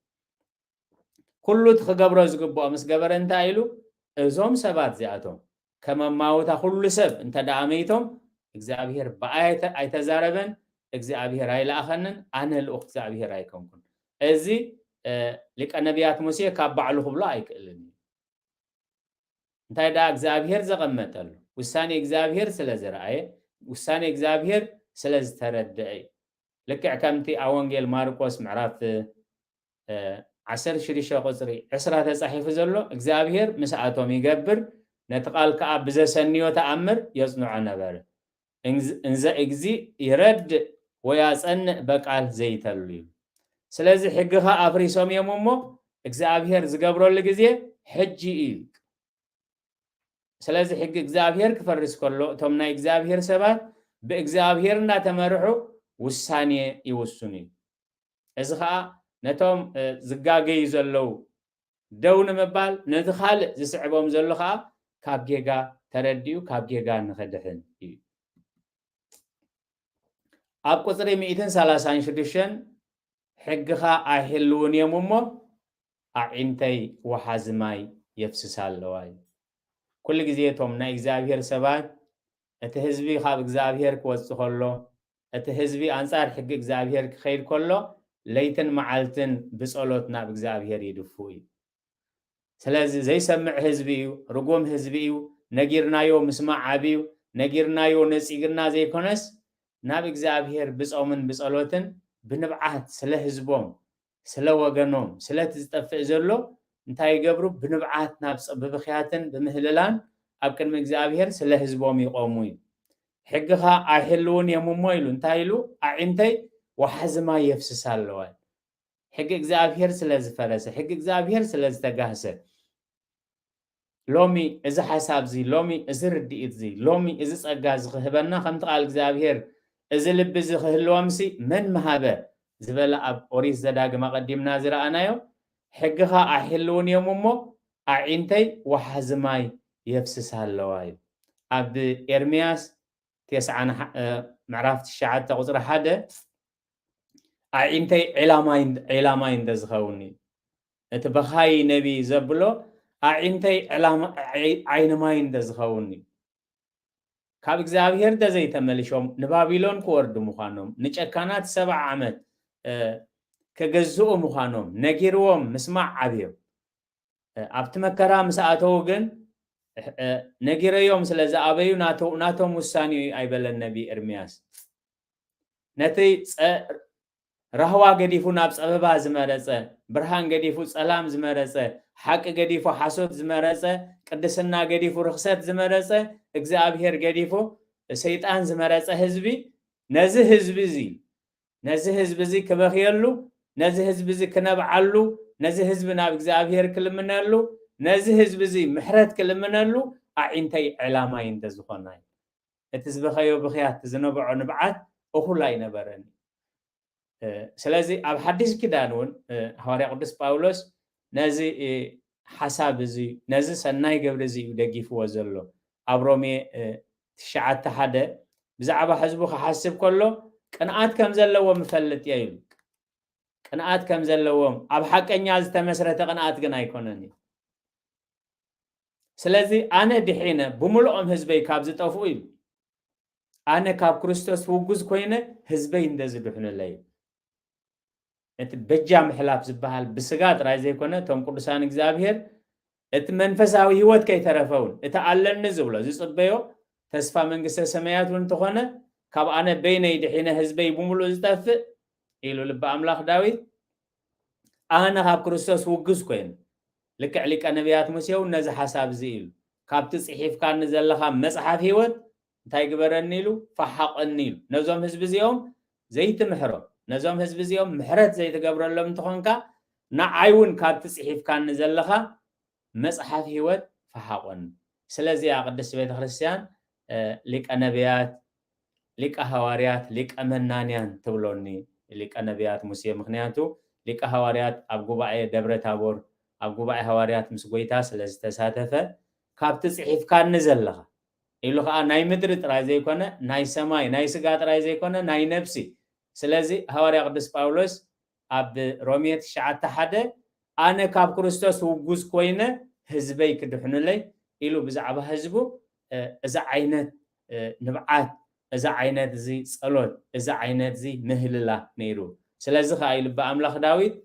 ኩሉ እቲ ክገብሮ ዝግብኦ ምስ ገበረ እንታይ ኢሉ እዞም ሰባት እዚኣቶም ከም ኣማውታ ኩሉ ሰብ እንተ ደኣ መይቶም እግዚኣብሄር ብኣይ ኣይተዛረበን እግዚኣብሄር ኣይለኣኸንን ኣነ ልኡኽ እግዚኣብሄር ኣይኮንኩን እዚ ሊቀ ነብያት ሙሴ ካብ ባዕሉ ክብሎ ኣይክእልን እዩ እንታይ ደኣ እግዚኣብሄር ዘቐመጠሉ ውሳኔ እግዚኣብሄር ስለ ዝረኣየ ውሳኔ እግዚኣብሄር ስለ ዝተረደኣ እዩ ልክዕ ከምቲ ኣብ ወንጌል ማርቆስ ምዕራፍ ዓሰርተ ሽዱሽተ ቁጽሪ ዕስራ ተጻሒፉ ዘሎ እግዚኣብሄር ምስኣቶም ይገብር ነቲ ቃል ከኣ ብዘሰንዮ ተኣምር የጽንዖ ነበረ እንዘ እግዚእ ይረድእ ወያጸንእ በቃል ዘይተሉ እዩ። ስለዚ ሕግኻ ኣፍሪሶም እዮም እሞ እግዚኣብሔር ዝገብረሉ ግዜ ሕጂ እዩ። ስለዚ ሕጊ እግዚኣብሔር ክፈርስ ከሎ እቶም ናይ እግዚኣብሔር ሰባት ብእግዚኣብሔር እናተመርሑ ውሳኔ ይውስኑ እዩ። እዚ ከዓ ነቶም ዝጋገዩ ዘለዉ ደው ንምባል ነቲ ካልእ ዝስዕቦም ዘሎ ከኣ ካብ ጌጋ ተረዲኡ ካብ ጌጋ ንክድሕን እዩ። ኣብ ቁጽሪ ሚእትን ሰላሳን ሽዱሽተን ሕግኻ ኣይሕልውን እዮም እሞ ኣዒንተይ ወሓዚ ማይ የፍስሳ ኣለዋ እዩ። ኩሉ ግዜ እቶም ናይ እግዚኣብሄር ሰባት እቲ ህዝቢ ካብ እግዚኣብሄር ክወጽእ ከሎ እቲ ህዝቢ ኣንጻር ሕጊ እግዚኣብሄር ኪኸይድ ከሎ ለይትን መዓልትን ብጸሎት ናብ እግዚኣብሄር ይድፉ እዩ። ስለዚ ዘይሰምዕ ህዝቢ እዩ፣ ርጉም ህዝቢ እዩ፣ ነጊርናዮ ምስማዕ ኣብዩ፣ ነጊርናዮ ነጺግና ዘይኮነስ ናብ እግዚኣብሄር ብጾምን ብጸሎትን ብንብዓት ስለ ህዝቦም ስለ ወገኖም ስለቲ ዝጠፍእ ዘሎ እንታይ ይገብሩ ብንብዓት ናብ ጸ ብብኽያትን ብምህልላን ኣብ ቅድሚ እግዚኣብሄር ስለ ህዝቦም ይቆሙ እዩ ሕግኻ ኣይህልውን እዮም እሞ ኢሉ እንታይ ኢሉ ኣዒንተይ ወሓዚ ማይ የፍስሳ ኣለዋ ሕጊ እግዚኣብሄር ስለ ዝፈረሰ ሕጊ እግዚኣብሄር ስለ ዝተጋህሰ ሎሚ እዚ ሓሳብ'ዚ፣ ሎሚ እዚ ርድኢት'ዚ፣ ሎሚ እዚ ጸጋ'ዚ ኺህበና፣ ከምቲ ቓል እግዚኣብሄር፣ እዚ ልቢ'ዚ ኺህልዎምሲ፣ መን ምሃበ? ዝበለ ኣብ ኦሪት ዘዳግም ኣቐዲምና ዝረኣናዮ፣ ሕግኻ ኣይሕልዉን እዮም እሞ፣ ኣዒንተይ ወሓዚ ማይ የፍስሳ ኣለዋ እዩ። ኣብ ኤርምያስ ቴስዓን ምዕራፍ ትሽዓተ ቍጽሪ ሓደ፣ ኣዒንተይ ዒላ ማይ እንተ ዚኸውን እዩ። እቲ በኻዪ ነቢ ዘብሎ ኣዒንተይ ዕላም ዓይኒ ማይ እንተ ዝኸውን እዩ። ካብ እግዚኣብሄር እንተ ዘይተመሊሾም ንባቢሎን ክወርዱ ምዃኖም፣ ንጨካናት ሰብዓ ዓመት ክግዝኡ ምዃኖም ነጊርዎም ምስማዕ ኣብዮም። ኣብቲ መከራ ምስ ኣተዉ ግን ነጊረዮም ስለ ዝኣበዩ ናቶም ውሳኔ እዩ ኣይበለን ነቢ ኤርምያስ። ነቲ ራህዋ ገዲፉ ናብ ጸበባ ዝመረጸ፣ ብርሃን ገዲፉ ጸላም ዝመረጸ፣ ሓቂ ገዲፉ ሓሶት ዝመረጸ፣ ቅድስና ገዲፉ ርኽሰት ዝመረጸ፣ እግዝኣብሄር ገዲፉ ሰይጣን ዝመረጸ ህዝቢ፣ ነዚ ህዝቢ እዚ፣ ነዚ ህዝቢ እዚ ክበኽየሉ፣ ነዚ ህዝቢ እዚ ክነብዓሉ፣ ነዚ ህዝቢ ናብ እግዝኣብሄር ክልምነሉ፣ ነዚ ህዝቢ እዚ ምሕረት ክልምነሉ ኣዒንተይ ዐላማይ እንተዝኾና ይብል። እቲ ዝበኸዮ ብኽያት ዝነበዖ ንብዓት እኹል ኣይነበረን እዩ። ስለዚ ኣብ ሓዲስ ኪዳን እውን ሃዋርያ ቅዱስ ጳውሎስ ነዚ ሓሳብ እዚ ነዚ ሰናይ ግብሪ እዚ እዩ ደጊፍዎ ዘሎ። ኣብ ሮሜ ትሽዓተ ሓደ ብዛዕባ ሕዝቡ ክሓስብ ከሎ ቅንኣት ከም ዘለዎም እፈልጥ እየ ኢሉ። ቅንኣት ከም ዘለዎም ኣብ ሓቀኛ ዝተመስረተ ቅንኣት ግን ኣይኮነን እዩ። ስለዚ ኣነ ድሒነ ብምልኦም ህዝበይ ካብ ዝጠፍኡ ኢሉ ኣነ ካብ ክርስቶስ ውጉዝ ኮይነ ህዝበይ እንደዝድሕኑለይ እዩ። እቲ በጃ ምሕላፍ ዝበሃል ብስጋ ጥራይ ዘይኮነ እቶም ቅዱሳን እግዚኣብሔር እቲ መንፈሳዊ ህይወት ከይተረፈ እውን እቲ ኣለኒ ዝብሎ ዝጽበዮ ተስፋ መንግስተ ሰማያት እውን እንተኾነ ካብ ኣነ በይነይ ድሒነ ህዝበይ ብምሉእ ዝጠፍእ ኢሉ ልቢ ኣምላኽ ዳዊት ኣነ ኻብ ክርስቶስ ውግዝ ኰይነ። ልክዕ ሊቀ ነብያት ሙሴ እውን ነዚ ሓሳብ እዚ ኢሉ፣ ካብቲ ጽሒፍካኒ ዘለኻ መጽሓፍ ህይወት እንታይ ግበረኒ ኢሉ፣ ፈሓቐኒ ኢሉ። ነዞም ህዝቢ እዚኦም ዘይትምሕሮም፣ ነዞም ህዝቢ እዚኦም ምሕረት ዘይትገብረሎም እንተ ዀንካ፣ ንዓይ እውን ካብቲ ጽሒፍካኒ ዘለኻ መጽሓፍ ሕይወት ፈሓቑን። ስለዚ'ያ ቅድስት ቤተ ክርስቲያን ሊቀ ነብያት፣ ሊቀ ሃዋርያት፣ ሊቀ መናንያን ትብሎኒ። ሊቀ ነብያት ሙሴ ምኽንያቱ ሊቀ ሃዋርያት ኣብ ጉባኤ ደብረ ታቦር ኣብ ጉባኤ ሃዋርያት ምስ ጐይታ ስለ ዝተሳተፈ ካብቲ ጽሒፍካኒ ዘለኻ ኢሉ ኸኣ ናይ ምድሪ ጥራይ ዘይኮነ ናይ ሰማይ ናይ ስጋ ጥራይ ዘይኮነ ናይ ነብሲ ስለዚ ሃዋርያ ቅዱስ ጳውሎስ ኣብ ሮሜ ትሽዓተ ሓደ ኣነ ካብ ክርስቶስ ውጉዝ ኮይነ ህዝበይ ክድሕኑለይ ኢሉ ብዛዕባ ህዝቡ እዚ ዓይነት ንብዓት እዚ ዓይነት እዚ ጸሎት እዚ ዓይነት እዚ ምህልላ ነይሩ ስለዚ ከኣ እዩ ልበ ኣምላኽ ዳዊት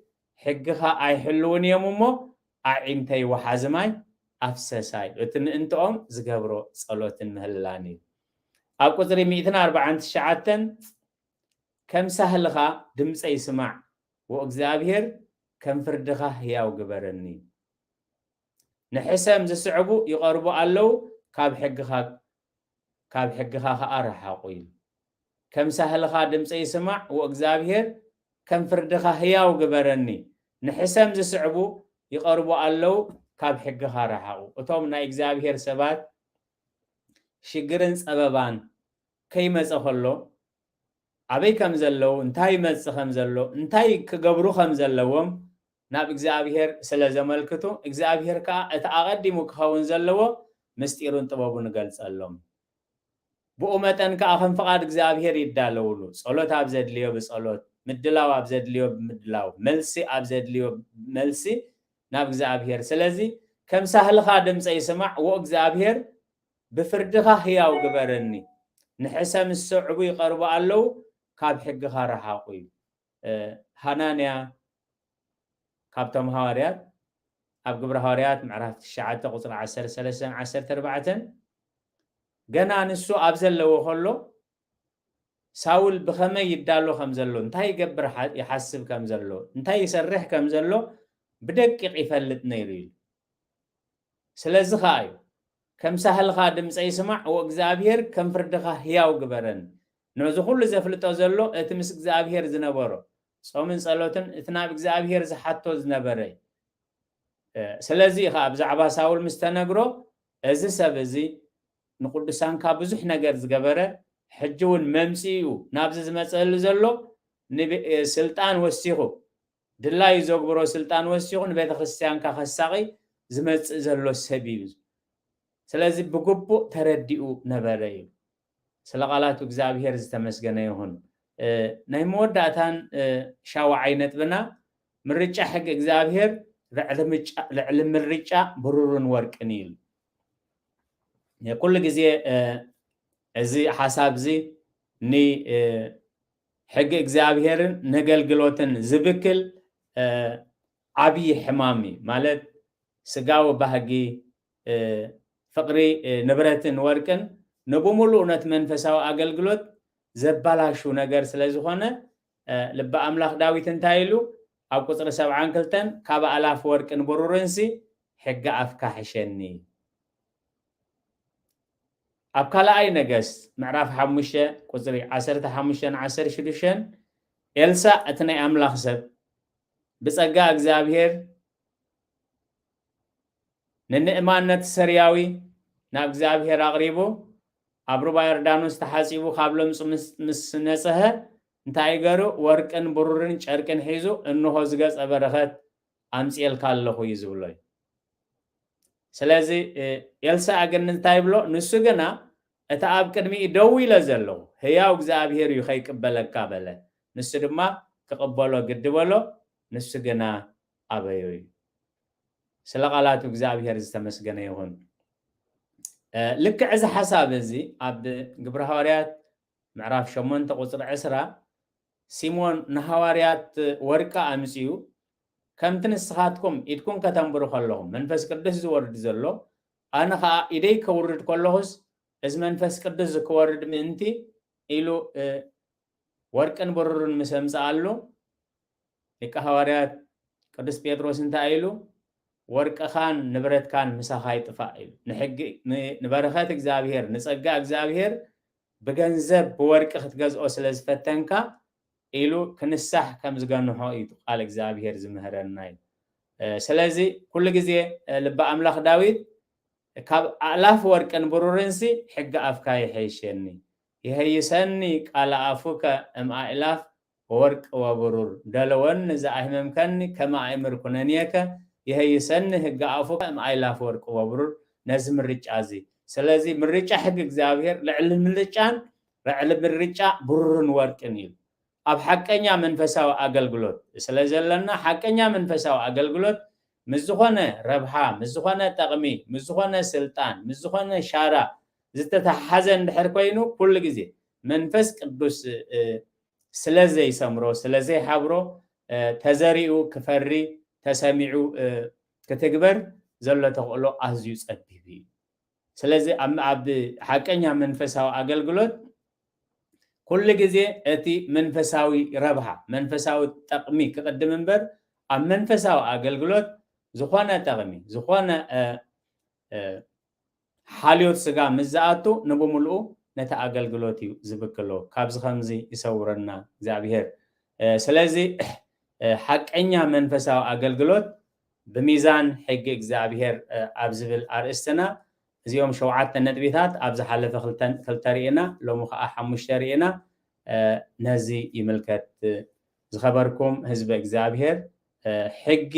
ሕግኻ ኣይሕልውን እዮም እሞ ኣዒንተይ ወሓዚ ማይ ኣፍሰሳ እዩ እቲ ምእንትኦም ዝገብሮ ጸሎትን ምህልላን እዩ ኣብ ቁጽሪ ሚእትን ኣርብዓን ትሽዓተን ከም ሳህልኻ ድምጸይ ስማዕ ዎእግዚኣብሄር ከም ፍርድኻ ህያው ግበረኒ ንሕሰም ዝስዕቡ ይቐርቡ ኣለዉ ካብ ሕግኻ ካብ ሕግኻ ኸኣ ርሓቑ ኢሉ ከም ሳህልኻ ድምጸይ ስማዕ ዎእግዚኣብሄር ከም ፍርድኻ ህያው ግበረኒ ንሕሰም ዝስዕቡ ይቐርቡ ኣለዉ ካብ ሕግኻ ርሓቑ እቶም ናይ እግዚኣብሄር ሰባት ሽግርን ጸበባን ከይመጸ ከሎ ኣበይ ከም ዘለዉ እንታይ ይመጽእ ከም ዘሎ እንታይ ክገብሩ ከም ዘለዎም ናብ እግዚኣብሄር ስለ ዘመልክቱ እግዚኣብሄር ከኣ እቲ ኣቐዲሙ ክኸውን ዘለዎ ምስጢሩን ጥበቡን እገልጸሎም ብኡ መጠን ከኣ ከም ፍቓድ እግዚኣብሄር ይዳለውሉ ጸሎት ኣብ ዘድልዮ ብጸሎት ምድላው ኣብ ዘድልዮ ብምድላው መልሲ ኣብ ዘድልዮ መልሲ ናብ እግዚኣብሄር ስለዚ ከም ሳህልኻ ድምጸይ ስማዕ ወእግዚኣብሄር ብፍርድኻ ህያው ግበረኒ ንሕሰ ምስ ሰዕቡ ይቀርቡ ኣለው ካብ ሕግኻ ረሓቁ ኢሉ ሃናንያ ካብቶም ሃዋርያት ኣብ ግብረ ሃዋርያት ምዕራፍ ትሽዓተ ቁጽሪ ዓሰርተ ሰለስተን ዓሰርተ ኣርባዕተን ገና ንሱ ኣብ ዘለዎ ከሎ ሳውል ብኸመይ ይዳሎ ከም ዘሎ እንታይ ይገብር ይሓስብ ከም ዘሎ እንታይ ይሰርሕ ከም ዘሎ ብደቂቕ ይፈልጥ ነይሩ ኢሉ ስለዚ ከዓ እዩ ከም ሳህልኻ ድምጸይ ስማዕ ወእግዚኣብሄር ከም ፍርድኻ ህያው ግበረኒ ነዚ ኩሉ ዘፍልጦ ዘሎ እቲ ምስ እግዚኣብሄር ዝነበሮ ጾምን ጸሎትን እቲ ናብ እግዚኣብሄር ዝሓቶ ዝነበረ እዩ ስለዚ እዩ ከኣ ብዛዕባ ሳውል ምስ ተነግሮ እዚ ሰብ እዚ ንቅዱሳንካ ብዙሕ ነገር ዝገበረ ሕጂ እውን መምጽኢኡ ናብዚ ዝመጽእሉ ዘሎ ስልጣን ወሲኹ ድላዩ ዘግብሮ ስልጣን ወሲኹ ንቤተክርስትያንካ ከሳቒ ዝመጽእ ዘሎ ሰብ እዩ። ስለዚ ብግቡእ ተረዲኡ ነበረ ይብል። ስለ ቃላቱ እግዚኣብሔር ዝተመስገነ ይኹን። ናይ መወዳእታን ሻውዓይ ነጥብና ምርጫ ሕጊ እግዚኣብሔር ልዕሊ ምርጫ ብሩርን ወርቅን እዩ ይብል። ኩሉ ግዜ እዚ ሓሳብ እዚ ን ሕጊ እግዚኣብሔርን ነገልግሎትን ዝብክል ዓብዪ ሕማም እዩ ማለት ስጋዊ ባህጊ ፍቅሪ ንብረትን ወርቅን ንብሙሉኡ ነት መንፈሳዊ ኣገልግሎት ዘባላሹ ነገር ስለ ዝኾነ ልቢ ኣምላኽ ዳዊት እንታይ ኢሉ ኣብ ቁፅሪ ሰብዓን ክልተን ካብ ኣእላፍ ወርቅን ብሩርንሲ ሕጊ ኣፍካ ሕሸኒ ኣብ ካልኣይ ነገስት ምዕራፍ ሓሙሽተ ቁፅሪ ዓሰርተ ሓሙሽተን ዓሰርተ ሽዱሽተን ኤልሳእ እቲ ናይ ኣምላኽ ሰብ ብጸጋ እግዚኣብሔር ንንእማን ነቲ ሰርያዊ ናብ እግዚኣብሔር ኣቕሪቡ ኣብ ሩባ ዮርዳኖስ ተሓጺቡ ካብ ለምጹ ምስ ነጽሀ እንታይ ገሩ ወርቅን ብሩርን ጨርቅን ሒዙ እንሆ ዝገጸ በረኸት ኣምጺኤልካ ኣለኹ እዩ ዝብሎ እዩ ስለዚ ኤልሳእ ግን እንታይ ይብሎ ንሱ ግና እቲ ኣብ ቅድሚኡ ደው ኢለ ዘለኹ ህያው እግዚኣብሄር እዩ ከይቅበለካ በለ ንሱ ድማ ክቕበሎ ግዲ በሎ ንሱ ግና ኣበዮ እዩ ስለ ቃላቱ እግዚኣብሄር ዝተመስገነ ይኹን ልክዕ እዚ ሓሳብ እዚ ኣብ ግብረ ሃዋርያት ምዕራፍ ሸሞንተ ቁጽሪ ዕስራ፣ ሲሞን ንሃዋርያት ወርቂ ኣምጺኡ፣ ከምቲ ንስኻትኩም ኢድኩም ከተንብሩ ከለኹም መንፈስ ቅዱስ ዚወርድ ዘሎ፣ ኣነ ኸኣ ኢደይ ከውርድ ከለኹስ፣ እዚ መንፈስ ቅዱስ እዚ ክወርድ ምእንቲ፣ ኢሉ ወርቅን ብሩርን ምስ ኣምጽኣሉ፣ ሊቀ ሃዋርያት ቅዱስ ጴጥሮስ እንታይ ኢሉ፣ ወርቅኻን ንብረትካን ምሳኻ ይጥፋእ ኢሉ፣ ንሕጊ ንበረኸት እግዚኣብሔር ንጸጋ እግዚኣብሔር ብገንዘብ ብወርቂ ክትገዝኦ ስለ ዝፈተንካ ኢሉ ክንሳሕ ከም ዝገንሖ እዩ እቲ ቃል እግዚኣብሄር ዝምህረና እዩ ስለዚ ኩሉ ግዜ ልቢ ኣምላኽ ዳዊት ካብ ኣእላፍ ወርቅን ብሩርንሲ ሕጊ ኣፍካ ይሐይሸኒ ይሀይሰኒ ቃል ኣፉከ እም ኣእላፍ ወወርቅ ወብሩር ደለወን ንዘኣሂመምከኒ ከመ ኣእምር ኩነኔከ ይሔይሰኒ ህገ ኣፉከ እም ኣእላፍ ወርቅ ወብሩር ነዚ ምርጫ እዚ ስለዚ ምርጫ ሕጊ እግዚኣብሔር ልዕሊ ምልጫን ልዕሊ ምርጫ ብሩርን ወርቅን እዩ ኣብ ሓቀኛ መንፈሳዊ ኣገልግሎት ስለዘለና ሓቀኛ መንፈሳዊ ኣገልግሎት ምስ ዝኾነ ረብሓ ምስ ዝኾነ ጠቕሚ ምስ ዝኾነ ስልጣን ምስ ዝኾነ ሻራ ዝተተሓሓዘ እንድሕር ኮይኑ ኩሉ ግዜ መንፈስ ቅዱስ ስለ ዘይሰምሮ ስለ ዘይሓብሮ ተዘሪኡ ክፈሪ ተሰሚዑ ክትግበር ዘሎ ተኽእሎ ኣዝዩ ጸቢብ እዩ። ስለዚ ኣብ ሓቀኛ መንፈሳዊ ኣገልግሎት ኩሉ ግዜ እቲ መንፈሳዊ ረብሃ መንፈሳዊ ጠቕሚ ክቕድም እምበር ኣብ መንፈሳዊ ኣገልግሎት ዝኾነ ጠቕሚ ዝኾነ ሓልዮት ስጋ ምስ ዝኣቱ ንብምሉኡ ነቲ ኣገልግሎት እዩ ዝብክሎ ካብዚ ከምዚ ይሰውረና እግዚኣብሄር ስለዚ ሓቀኛ መንፈሳዊ ኣገልግሎት ብሚዛን ሕጊ እግዚኣብሄር ኣብ ዝብል ኣርእስትና እዚኦም ሸውዓተ ነጥቢታት ኣብ ዝሓለፈ ክልተ ርኢና ሎሚ ከዓ ሓሙሽተ ርኢና ነዚ ይምልከት ዝኸበርኩም ህዝበ እግዚኣብሔር ሕጊ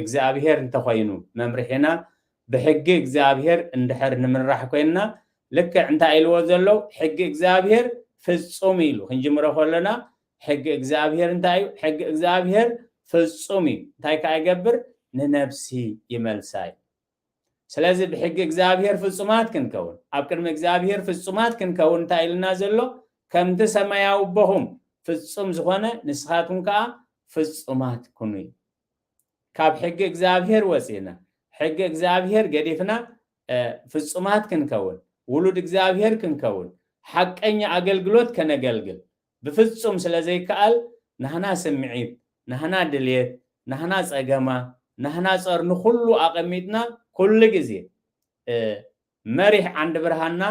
እግዚኣብሔር እንተኾይኑ መምርሒና ብሕጊ እግዚኣብሔር እንድሕር ንምራሕ ኮይንና ልክዕ እንታይ ኢልዎ ዘሎ ሕጊ እግዚኣብሔር ፍጹም ኢሉ ክንጅምሮ ከሎና ሕጊ እግዚኣብሔር እንታይ እዩ ሕጊ እግዚኣብሔር ፍጹም እዩ እንታይ ከዓ ይገብር ንነብሲ ይመልሳ እዩ ስለዚ ብሕጊ እግዚኣብሄር ፍጹማት ክንከውን ኣብ ቅድሚ እግዚኣብሄር ፍጹማት ክንከውን እንታይ ኢሉና ዘሎ ከምቲ ሰማያዊ ኣቦኹም ፍጹም ዝኾነ ንስኻትኩም ከኣ ፍጹማት ኩኑ እዩ ካብ ሕጊ እግዚኣብሄር ወጺእና ሕጊ እግዚኣብሄር ገዲፍና ፍጹማት ክንከውን ውሉድ እግዚኣብሄር ክንከውን ሓቀኛ ኣገልግሎት ከነገልግል ብፍጹም ስለ ዘይከኣል ናህና ስምዒት፣ ናህና ድልየት፣ ናህና ጸገማ፣ ናህና ጸር ንኹሉ ኣቐሚጥና ኩሉ ግዜ መሪሕ ዓንዲ ብርሃንና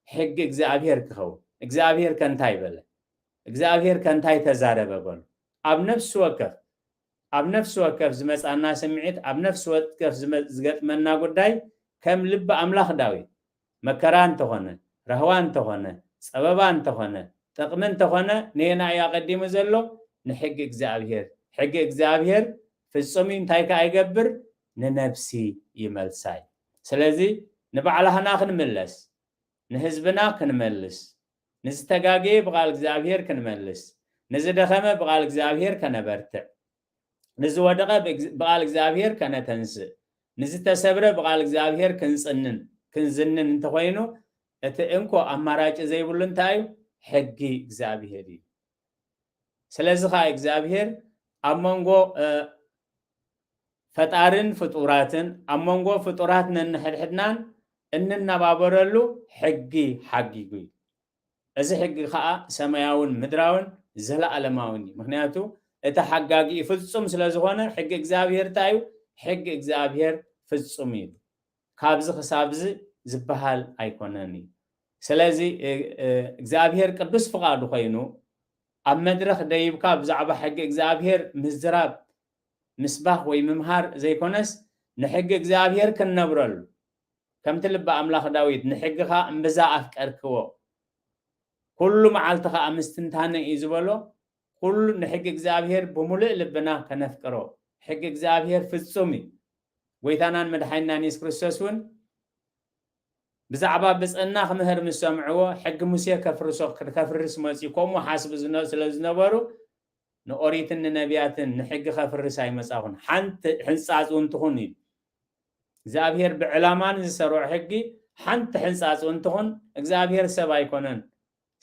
ሕጊ እግዚኣብሔር ክኸውን። እግዚኣብሔር ከ እንታይ በለ? እግዚኣብሔር ከ እንታይ ተዛረበ በሉ። ኣብ ነፍሲ ወከፍ ኣብ ነፍሲ ወከፍ ዝመጻና ስምዒት፣ ኣብ ነፍሲ ወከፍ ዝገጥመና ጉዳይ ከም ልቢ ኣምላኽ ዳዊት መከራ እንተኾነ፣ ራህዋ እንተኾነ፣ ጸበባ እንተኾነ፣ ጥቕሚ እንተኾነ ነየናይ እዩ ኣቐዲሙ ዘሎ? ንሕጊ እግዚኣብሔር። ሕጊ እግዚኣብሔር ፍጹም እዩ እንታይ ከኣ ይገብር? ንነብሲ ይመልሳ እዩ። ስለዚ ንባዕላህና ክንምለስ፣ ንህዝብና ክንመልስ፣ ንዝተጋገየ ብቃል እግዚኣብሔር ክንመልስ፣ ንዝደኸመ ብቃል እግዚኣብሔር ከነበርትዕ፣ ንዝወደቐ ብቓል እግዚኣብሔር ከነተንስእ፣ ንዝተሰብረ ብቓል እግዚኣብሔር ክንጽንን ክንዝንን እንተኾይኑ እቲ እንኮ ኣማራጭ ዘይብሉ እንታይ እዩ? ሕጊ እግዚኣብሔር እዩ። ስለዚ ከዓ እግዚኣብሔር ኣብ መንጎ ፈጣርን ፍጡራትን ኣብ መንጎ ፍጡራት ነንሕድሕድናን እንነባበረሉ ሕጊ ሓጊጉ እዩ። እዚ ሕጊ ኸኣ ሰማያውን ምድራውን ዘለኣለማውን እዩ። ምኽንያቱ እቲ ሓጋጊኡ ፍጹም ስለ ዝኾነ፣ ሕጊ እግዚኣብሄር እንታይ እዩ? ሕጊ እግዚኣብሄር ፍጹም እዩ። ካብዚ ኽሳብዚ ዝበሃል ኣይኮነን እዩ። ስለዚ እግዚኣብሄር ቅዱስ ፍቓዱ ኾይኑ ኣብ መድረኽ ደይብካ ብዛዕባ ሕጊ እግዚኣብሄር ምዝራብ፣ ምስባኽ ወይ ምምሃር ዘይኮነስ ንሕጊ እግዚኣብሄር ክንነብረሉ፣ ከምቲ ልቢ ኣምላኽ ዳዊት ንሕግኻ እምብዛ ኣፍቀርክዎ፣ ኩሉ መዓልቲ ኸኣ ምስትንታነይ እዩ ዝበሎ፣ ኩሉ ንሕጊ እግዚኣብሄር ብምሉእ ልብና ከነፍቅሮ። ሕጊ እግዚኣብሄር ፍጹም እዩ። ጐይታናን መድሓኒናን የሱስ ክርስቶስ እውን ብዛዕባ ብጽእና ክምህር ምስ ሰምዕዎ ሕጊ ሙሴ ከፍርሶ ከፍርስ መጽዩ ከምኡ ሓስቡ ስለ ዝነበሩ ንኦሪትን ንነቢያትን ንሕጊ ከፍርስ ኣይመጻኹን ሓንቲ ሕንጻጽ እውን ትኹን ኢሉ እግዚኣብሔር ብዕላማ ንዝሰርዖ ሕጊ ሓንቲ ሕንጻጽ እውን ትኹን እግዚኣብሔር ሰብ ኣይኮነን።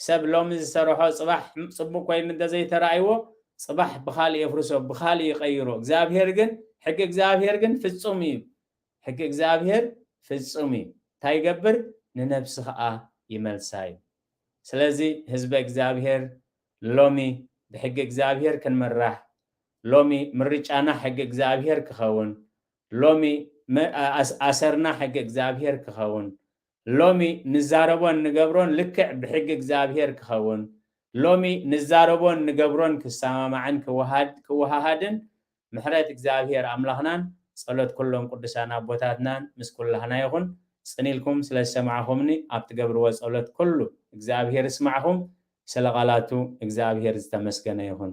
ሰብ ሎሚ ዝሰርሖ ጽባሕ ጽቡቕ ኮይኑ እንተዘይተራእይዎ ጽባሕ ብኻልእ የፍርሶ ብኻልእ ይቐይሮ እግዚኣብሔር ግን ሕጊ እግዚኣብሔር ግን ፍጹም እዩ ሕጊ እግዚኣብሔር ፍጹም እዩ እንታይ ይገብር ንነብሲ ኸኣ ይመልሳ እዩ ስለዚ ህዝበ እግዚኣብሔር ሎሚ ብሕጊ እግዚኣብሔር ክንምራሕ ሎሚ ምርጫና ሕጊ እግዚኣብሔር ክኸውን ሎሚ ኣሰርና ሕጊ እግዚኣብሔር ክኸውን ሎሚ ንዛረቦን ንገብሮን ልክዕ ብሕጊ እግዚኣብሔር ክኸውን ሎሚ ንዛረቦን ንገብሮን ክሰማማዕን ክወሃሃድን ምሕረት እግዚኣብሔር ኣምላኽናን ጸሎት ኩሎም ቅዱሳን ኣቦታትናን ምስ ኩላህና ይኹን ጽን ኢልኩም ስለ ዝሰማዕኹምኒ ኣብ ትገብርዎ ጸሎት ኩሉ እግዚኣብሔር ይስማዕኹም ስለ ቃላቱ እግዚኣብሔር ዝተመስገነ ይኹን።